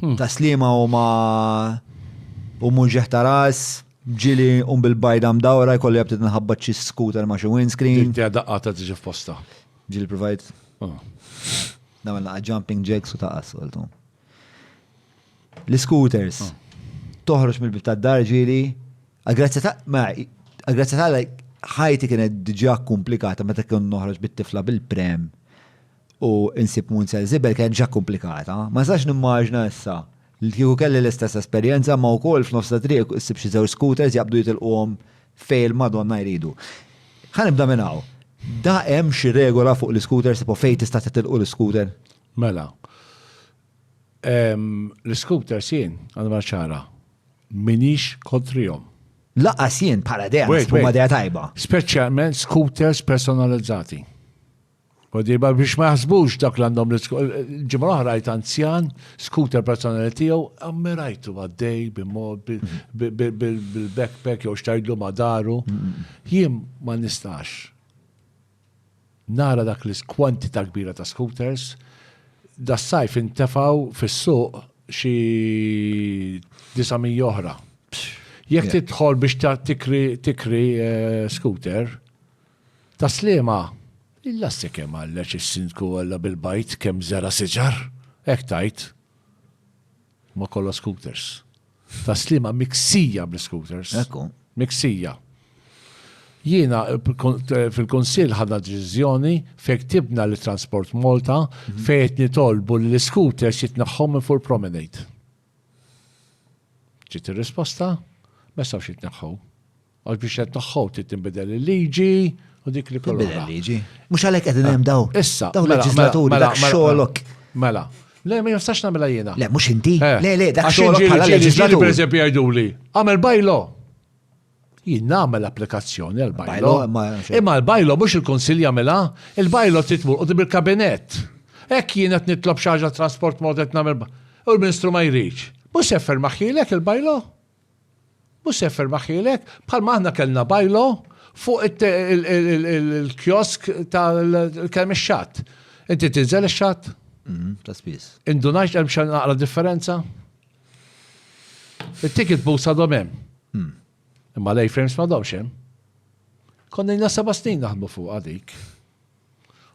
Hmm. Ta' slima u ma u muġeħ ta' ras, ġili un bil-bajda mdawra jkolli għabtit nħabba ċi skuter ma' xi windscreen. Dik daqqa ta' tiġi f'posta. Ġili provajt. Oh. Namel naqa jumping jacks u ta' assoltu. L-scooters. Oh. Toħroġ mill-bib ta' dar ġili. Għagrazzi ta' ma' għagrazzi ta' ħajti kienet diġa komplikata meta kien noħroġ bit-tifla bil-prem u nsib Munzel Żibel kienet ġa komplikata. Ma nistax nimmaġina issa li kieku kelli l-istess esperjenza imma wkoll f'nofs ta' triq issib xi żewġ scooters jaqbdu jitilquhom fejn il-Madonna jridu. Ħa nibda minn hawn. Da hemm xi regola fuq l-iscooters tipo fejn tista' titilqu l-iscooter? Mela. L-iscooters jien għandi ngħid ċara. M'iniex kontrihom. Lanqas jien bħala idea, naħseb huma idea tajba. Speċjalment scooters personalizzati. Koddieba biex ma jaħsbux dak li għandhom l-ġimgħa l-oħra rajt anzjan, skuter personali tiegħu, ammirajtu għaddej bil-backpack jew xtajdlu ma' daru. Jien ma nistax. Nara dak li kwantità kbira ta' scooters, da sajf intefaw fis-suq xi 900 oħra. Jekk tidħol biex tikri eh, scooter, Tas-Sliema, Il-lassi kemm għalleġ is-Sindku Olla bil-bajd kemm żera' siġar! Hekk tgħid? Ma kollha scooters. Tas-Sliema miksija bl-iscooters. Hekk hu. Miksija. Jiena fil-Kunsill ħadna deċiżjoni fejn ktibna lil Transport Malta mhm. fejn qed nitolbu li l-iscooters jitneħħu minn fuq promenade. Ġiet ir-risposta, ma jistgħux jitneħħu. Għax biex qed tagħhom trid tinbidel il-liġi u dik li kollha. Tinbidel il-liġi. Mhux għalhekk qegħdin hemm daw. Eh, issa. Daw mela, leġislaturi mela, dak mela, xogħolok. Mela. Le, ma jistax nagħmilha jiena. Le, mhux inti. Eh. Le, le, dak xogħolok bħala leġislatur. Per eżempju jgħiduli, għamel bajlo. Jien nagħmel applikazzjoni għal bajlo. Imma l-bajlo mhux il-Kunsill jagħmilha, il-bajlo titmur u tibir kabinet. Hekk jien qed nitlob xi ħaġa trasport mod qed nagħmel. U l-Ministru ma jridx. Mhux jeffer maħħilek il-bajlo? Mhux se jifferma ħielek, bħalma aħna kellna bajlo fuq il-kiosk tal-kemm ix-xatt. Inti tinżel ix-xatt? Mhm, ta' spiss. Indunajx hemm xejn naqra differenza? It-ticket booths għadhom hemm. Hmm. Imma l-A-frames ma domx hemm. Konna jna seba' snin naħdmu fuq għadik.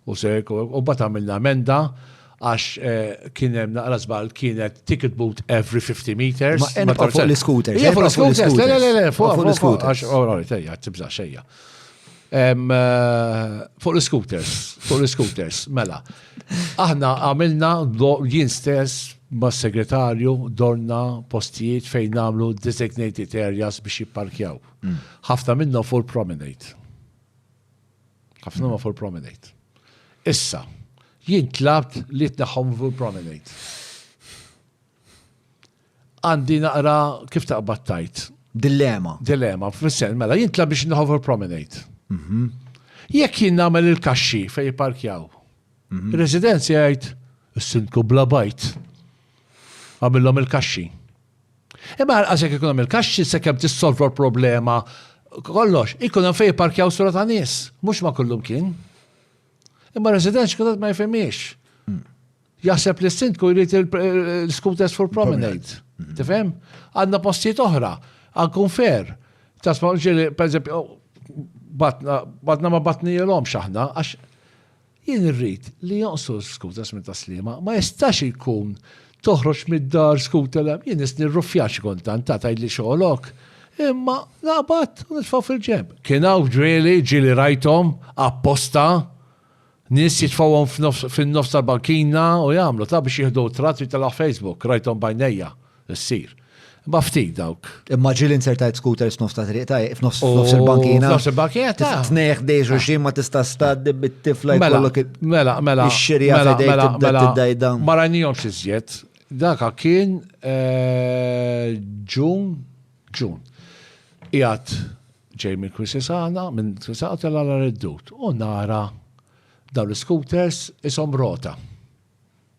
U se u mbagħad għamilna emenda għax kien hemm naqra żball kienet ticket boot every 50 meters. Ma hemm fuq l-scooters. Hija fuq l-scooters, le le le, fuq l-scooters. All right, ejja, tibża xejja. Fuq l-scooters, fuq l-scooters, mela. Aħna għamilna jien stess ma' segretarju dorna postijiet fejn għamlu designated areas biex jipparkjaw. Ħafna minnhom fuq il-promenade. Ħafna ma fuq promenade. Issa, jien tlabt li tnaħħom fuq promenade. Għandi naqra kif taqbad tajt. Dilemma. Dilemma, fil-sen, mela, jien tlabt biex naħħom fuq promenade. Mhm. Jekk jien nagħmel il-kaxxi fej parkjaw. Mhm. Residenzi għajt, s-sindku bla bajt. Għamillom il-kaxxi. Imma għalqas jekk ikun hemm il-kaxxi sakemm tissolva l-problema kollox, ikun hemm fejn jipparkjaw sura ta' nies, mhux ma' kullumkien. Imma resident xkutat ma jifhimiex. Hmm. Jaħseb li s-sindku jrid il-scooters full promenade. Hmm. Tifhem? Għandna postijiet oħra, għankun fair. Tasma' ġiri, per eżempju, oh, batna ma batni jelom xaħna, għax Jien irrid li jonqsu l-scooters minn Tas-Sliema. Ma jistax jkun toħroġ mid-dar scooter hemm. Jien nistni r-ruffjar xi kultant, tagħha tgħidli xogħlok, imma naqbad u nitfgħu fil-ġenb. Kien hawn f'ġrieli ġieli rajthom, apposta, nies jitfgħuhom fin-nofs tal-bankina u jagħmlu, ta' biex jieħdu tratt u jitilgħu Facebook, rajthom b'għajnejja. ssir. Imma ftit dawk. Imma ġieli insertajt skuter f'nofs ta' triq ta' f'nofs il-bankina. F'nofs il-bankina ta' tneħ dejx u xi ma tista' staddi bit-tifla jkollok mela mela ix-xirja mela, f'idejk mela, tibda mela, tiddajda. Ma rajnihomx iżjed. Daka kien eh, Ġun, Ġun. Qiegħed ġej minn Kwisisana, minn Kwisisana tela' l-reddut u nara dawn l-scooters isom rota.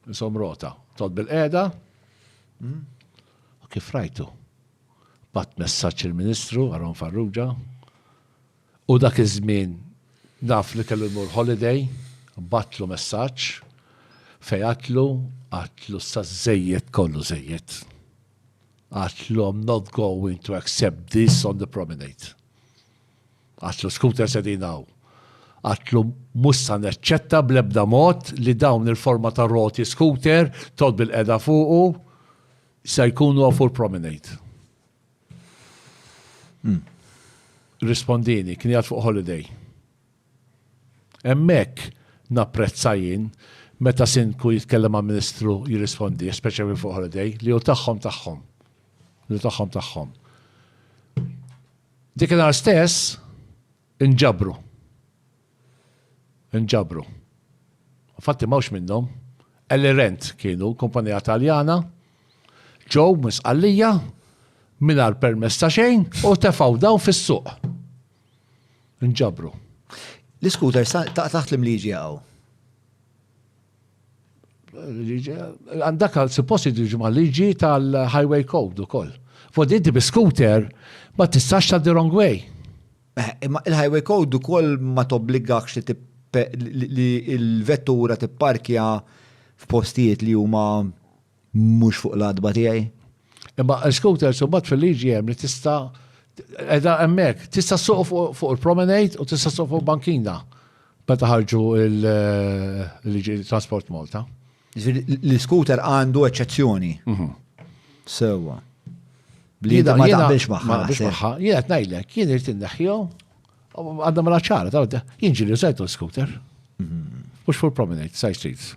Insom rota. Tod bil-qeda. Hmm? U kif rajtu? Bat messaċ il-Ministru, Aron Farrugia, u dak iż-żmien naf li kellu jmur holiday, batlu messaċ, fejatlu, għatlu sa zejjed kollu zejjed. Għatlu I'm not going to accept this on the promenade. Għatlu scooters qegħdin hawn. Għatlu mhux sa neċċetta bl-ebda mod li dawn il-forma ta' roti scooter tod bil-qeda fuqu se jkunu a full promenade. Hmm. Rispondini, kien jgħat fuq holiday. Emmek napprezza jien meta sinku jitkellem ma' ministru jirrispondi, speċjalment fuq holiday, li hu tagħhom tagħhom. Li tagħhom tagħhom. Dik in-nhar stess inġabru. Inġabru. Infatti m'hawnx minnhom. Elirent kienu, kumpanija Taljana, ġew minn Sqallija mingħajr permess ta' xejn u tefgħu dawn fis-suq. Inġabru. L-iskuter taħt l-imliġi hawn. Għandak għal suppost jiġu ma' liġi tal-highway code u koll. Fod inti bi scooter ma tistax ta' the wrong way. Eh, imma il-highway code u koll ma tobbligakx li li il-vettura tipparkja f'postijiet li huma Mhux fuq l-adba tiegħi. Imma l-scooters u bat fil-liġi hemm li tista' edha hemmhekk, tista' suq fuq il-promenade u tista' suq fuq bankina meta ħarġu l-liġi trasport Malta. L-scooter għandu eċċezzjoni. Mhm. Sewwa. Li da ma taqbilx magħha. Jien qed ngħidlek, jien irid inneħħiju għandha mela ċara, jien ġieli sajtu l-scooter. Mhm. Mhux fuq il-promenade, side streets.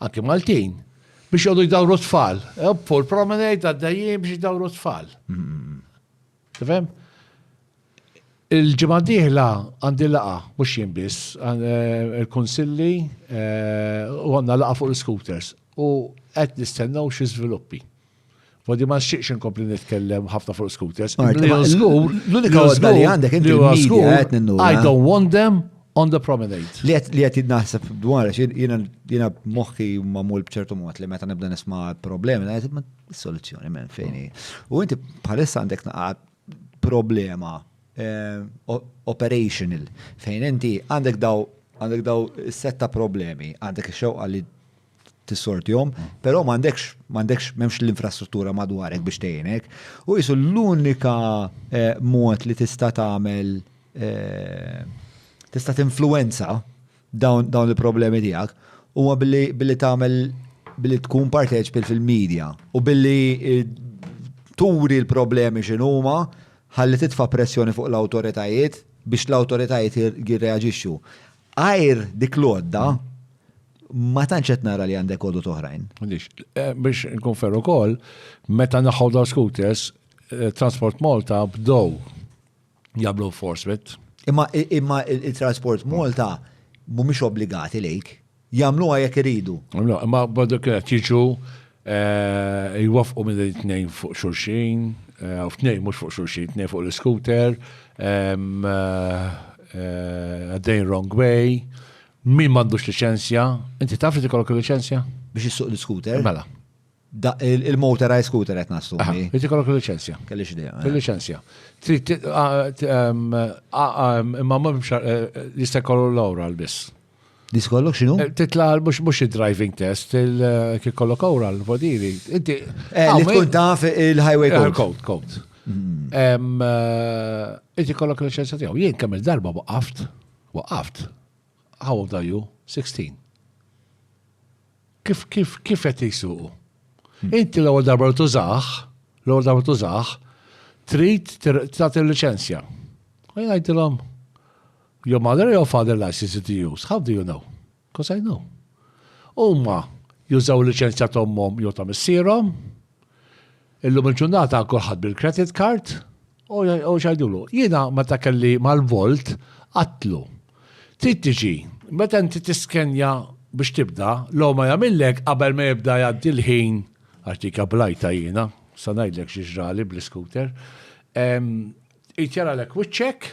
Anki Maltin, biex jgħodu jdawru tfal. Eppu, l-promenade għaddejjien biex jdawru tfal. Tifhem? Il-ġimgħa diħla għandi laqa, mhux jien biss, eh, il-kunsilli eh, u għandna laqa fuq l-scooters u qed nistennew xi żviluppi. Fodi ma nxieqx inkompli nitkellem ħafna fuq scooters. L-unika għodda li għandek inti I don't want them on the promenade. Li għet li għet naħseb dwar, jina moħħi mamul bċertu mod li meta nibda nisma problemi, la jtib soluzzjoni minn fejni. U inti bħalissa għandek naqat problema eh, operational fejn inti għandek daw għandek daw setta problemi, għandek xewqa li tissortihom, però m'għandekx m'għandekx m'hemmx l-infrastruttura madwarek biex tgħinek. U jisu l-unika eh, mod li tista' tagħmel eh, tista' tinfluwenza dawn dawn il-problemi tiegħek huwa billi billi tagħmel billi tkun parteċpi fil-medja u billi eh, turi l-problemi x'inhuma ħalli titfa' pressjoni fuq l-awtoritajiet biex l-awtoritajiet jirreaġixxu. Għajr dik l-għodda, ma tantx qed nara li għandek għodot oħrajn. Eh, biex nkun ferru kol, meta naħħu daw scooters, eh, Transport Malta bdow jablu enforcement. Imma imma il-Transport Malta mhumiex obbligati lejk. Jagħmluha jekk iridu. Imma badu kienet jiġu Eh, jwafqu minn it-tnejn fuq xulxin, eh, u tnejn mhux fuq xulxin, tnejn fuq l-scooter, eh, għaddejn wrong way, min m'għandux liċenzja, inti taf li tikollok liċenzja? Biex issuq l-scooter? Mela. Il-motorized scooter qed nastu. Inti kollok liċenzja. Kellix idea. Liċenzja. Imma ma jista' jkollu l-awra l-biss. Dis kollok xinu? Eh, titla mux mux il-driving test, eh, kif kollok ora l-vodili. Inti. Eh, li tkun taf il-highway code. Code, code. Mm. Inti kollok l-ċensa tijaw. Jien kemm il-darba waqaft, waqaft. How old are you? 16. Kif, kif, kif qed jisuqu? Mm. Inti l-ewwel darba tużax, l-ewwel darba tużax, trid tagħti l-liċenzja. Għajdilhom, Your mother or your father license to use? How do you know? Because I know. Huma jużaw liċenzja ta' ommhom jew ta' missierhom. Illum il-ġurnata kulħadd bil-credit card u xajdulu. Jiena meta kelli mal-volt qatlu. Trid tiġi, meta inti tiskenja biex tibda, l ma jagħmillek qabel ma jibda jgħaddi l-ħin għax dik ablajta jiena, sa ngħidlek xi ġrali bl-iskuter. Jtjara l-ek wiċċek,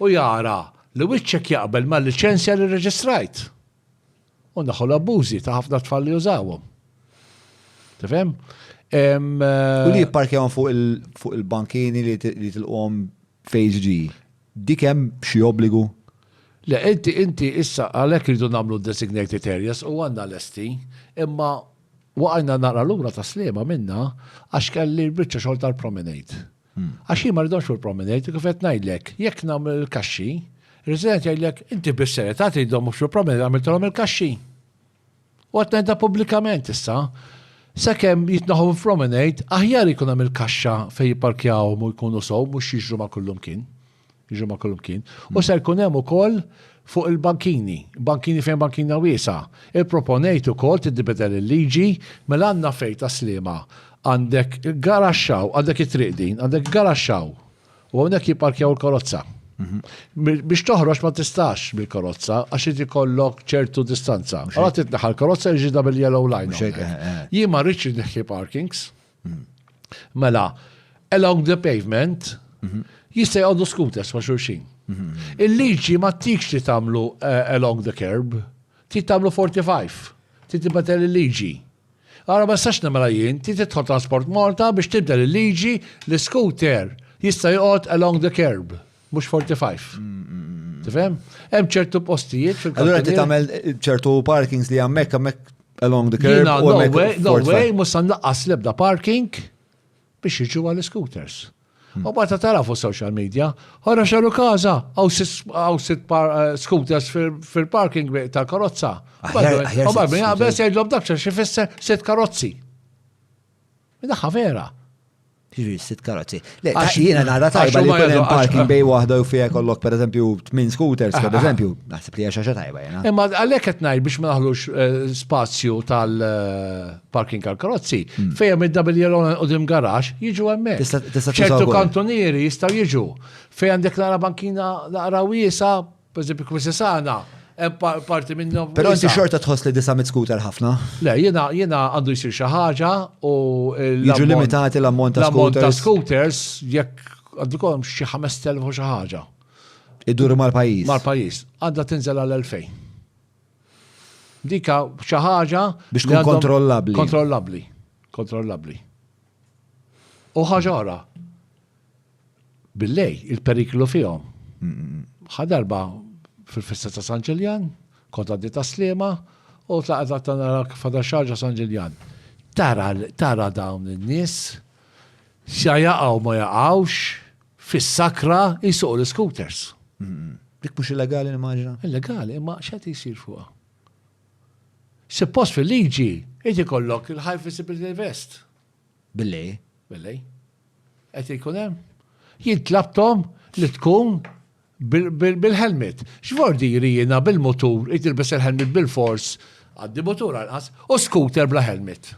u jara li wiċċek jaqbel mal-liċenzja li rreġistrajt. U naħħu l-abbużi ta' ħafna tfal li jużawhom. Tifhem? U li jipparkjawhom fuq il-bankini li tilqhom fejġ Dik hemm xi obbligu? Le, inti inti issa għalhekk rridu nagħmlu designated areas u għandna lesti, imma waqajna naqra lura ta' slima minna għax kelli l-biċċa xogħol tal-promenade. Għax jien ma rridhomx fuq il-promenade, kif qed ngħidlek, jekk nagħmel il-kaxxi, resident jgħidlek inti bis-serjetà tridhom fuq il-promenade għamiltilhom il-kaxxi. U qed ngħidha pubblikament issa, sakemm jitnaħu fil-promenade, aħjar jkun hemm il-kaxxa fejn jipparkjawhom u jkunu sew mhux jiġru ma' kullum kien. Ġimgħa kulmkien. U mm. se jkun hemm ukoll fuq il-bankini, bankini fejn bankina wiesa. Il-proponejt ukoll tiddibidel il-liġi mela għandna fejn ta' slima. Għandek garaxxaw, għandek it-triq din, għandek garaxxaw. U hawnhekk jipparkjaw il-karozza. Mhm. Biex toħroġ ma tistax bil-karozza għax inti kollok ċertu distanza. Għalat titneħal karozza ġida bil-yellow line. Eh, eh. Jien ma rridx neħħi parkings. Mela, along the pavement, jista' jgħoddu scooters ma' xulxin. Il-liġi ma tikx li tagħmlu eh, along the curb, ti tagħmlu 45, ti tibbatel il-liġi. Għara ma sax namela jien, ti titħol transport Malta biex tibdel il-liġi li scooter jista' joqgħod along the curb. mhux 45. Mm, mm, mm, Tifhem? Hemm ċertu postijiet fil Allura ti tagħmel ċertu parkings li hemmhekk hemmhekk along the curb. Jina, no way, no way, musan laqqas lebda parking biex jiġu għal-scooters. Hmm. U bata tara fuq social media, ħora xaru kaza, għaw sit eh, scooters fil-parking tal-karozza. U barbi għabes jgħidlom dakċa xifisser sit karozzi. Daħħa vera. Ġiri, sitt karozzi. Le, għax jiena nara tajba li kull hemm parking bej waħda u fija kollok per eżempju tmin scooters, per eżempju, naħseb li għaxa tajba jena. Imma għalhekk qed ngħid biex ma naħlux eh, spazju tal-parking eh, għal karozzi, hmm. fejjem id-double yellow u dim garax jiġu hemmhekk. ċertu kantonieri jistgħu jiġu. Fejn għandek nara bankina naqra wiesa Pereżempju, il-Kmisi Sana, parti minnhom. Però inti xorta tħoss li disa mit scooter ħafna? Le, jiena jiena għandu jsir xi ħaġa u Jiġu limitati l-ammont ta' scooters. ta' scooters jekk għandu kolom xi 5000 u xi ħaġa. Iduru mal-pajjiż. Mal-pajjiż. Għandha tinżel għal 2000. Dika xi ħaġa biex tkun kontrollabbli. Kontrollabbli. Kontrollabbli. U ħaġa oħra, Billej, il-periklu fihom. Ħa darba fil-festa ta' San Ġiljan, kont għaddi ta' Sliema, u tlaqgħet għatta nara kif fada xarġa San Ġiljan. Tara, tara dawn in-nies, sa jaqgħu ma jaqgħux, fis-sakra jsuqu l-iskuters. Dik mhux illegali nimmaġina? Illegali, imma x'qed jsir fuqha? Suppost fil-liġi, qed ikollok il-high visibility vest. Billej. Billej. Qed ikun hemm? Jien tlabthom li tkun bil-helmet. X'vordiri jiena bil-mutur irid nilbes il-helmet bilfors, għandi mutur anqas, u scooter bla helmet.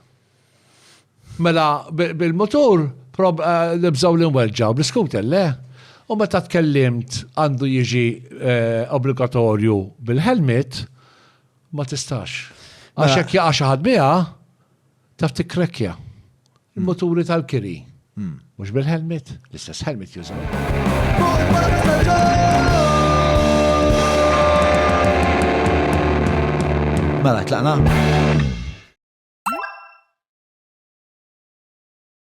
Mela bil-mutur nibżgħu li nwelġgħu, bl-iscooter le? U meta tkellimt għandu jiġi obbligatorju bil-helmet, ma tistax. Għax jekk jaqa' xi ħadd biha, Taf tikkrekkja. Il-moturi tal-kiri. Hmm. Mhux bil-helmet, l-istess helmet jużaw. Mela, tlaqna?